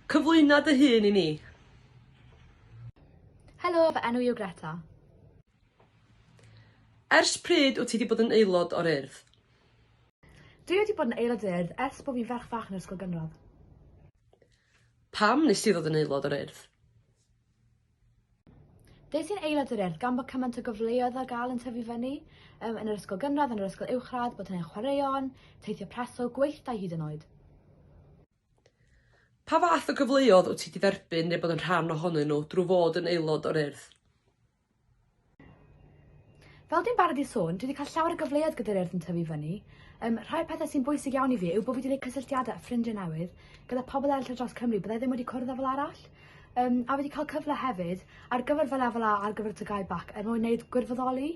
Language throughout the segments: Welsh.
Cyflwyno dy hun i ni. Helo, fy enw i yw Greta. Ers pryd wyt ti wedi bod yn aelod o'r Urdd? Dwi wedi bod yn aelod o'r Urdd ers bod fi'n ferch fach yn yr ysgol gynradd. Pam nes di ddod yn aelod o'r Urdd? Des i'n aelod yr Urdd gan bod cymaint o gyfleoedd ar gael yn tyfu fyny, um, yn yr ysgol gynradd, yn yr ysgol uwchradd, bod hynny'n chwaraeon, teithio preswyl, gweithdai hyd yn oed. Pa fath o gyfleoedd wyt ti wedi dderbyn neu bod yn rhan ohonyn nhw drwy fod yn aelod o'r Urdd? Fel dwi'n barod i sôn, dwi wedi cael llawer o gyfleoedd gyda'r urdd yn tyfu fyny. Um, rhai o'r pethau sy'n bwysig iawn i fi yw bod fi wedi gwneud cysylltiadau a ffrindiau newydd gyda pobl eraill dros Cymru byddai ddim wedi cwrdd â fel arall. Um, a wedi cael cyfle hefyd ar gyfer fy lefel A ar gyfer tygau bac er mwyn gwneud gwirfoddoli.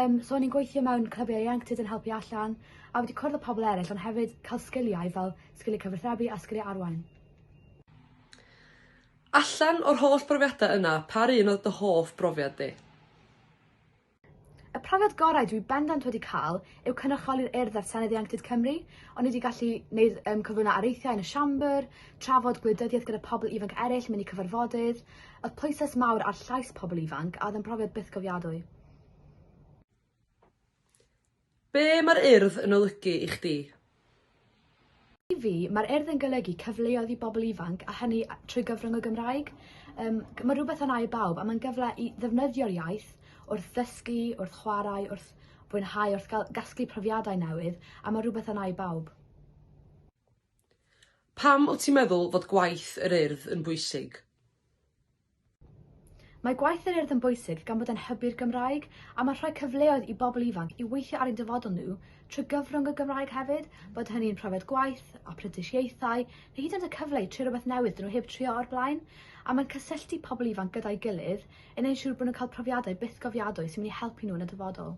Um, so o'n i'n gweithio mewn clybiau ieuenctid yn helpu allan a wedi cwrdd â pobl eraill ond hefyd cael sgiliau fel sgiliau cyfathrebu a sgiliau arwain. Allan o'r holl brofiadau yna, pa un oedd dy hoff brofiad di? Y profiad gorau dwi bendant wedi cael yw cynrychioli'r Urdd ar Senedd Ieuenctid Cymru. O'n i wedi gallu neud um, cyflwyno areithiau yn y siambr, trafod gwleidyddiaeth gyda pobl ifanc eraill, mynd i cyfarfodydd. Oedd pwyslais mawr ar llais pobl ifanc a oedd yn brofiad bythgofiadwy. Be mae'r Urdd yn olygu i chdi? I fi, mae'r Urdd yn golygu cyfleoedd i bobl ifanc a hynny trwy gyfrwng y Gymraeg. Yym, mae rhywbeth am air bawb a mae'n gyfle i ddefnyddio'r iaith wrth ddysgu, wrth chwarae, wrth fwynhau, wrth gael gasglu profiadau newydd a mae rhywbeth am air bawb. Pam wyt ti'n meddwl fod gwaith yr Urdd yn bwysig? Mae gwaith yr Urdd yn bwysig gan bod e'n hybu'r Gymraeg a mae'n rhoi cyfleoedd i bobl ifanc i weithio ar ein dyfodol nhw trwy gyfrwng y Gymraeg hefyd, bod hynny'n profiad gwaith, aprentisiaethau, neu hyd yn oed y cyfle i trio rhywbeth newydd dyn nhw heb trio o'r blaen. A mae'n cysylltu pobl ifanc gyda'i gilydd, yn ein siŵr bod nhw'n cael profiadau bythgofiadwy sy'n mynd i helpu nhw yn y dyfodol.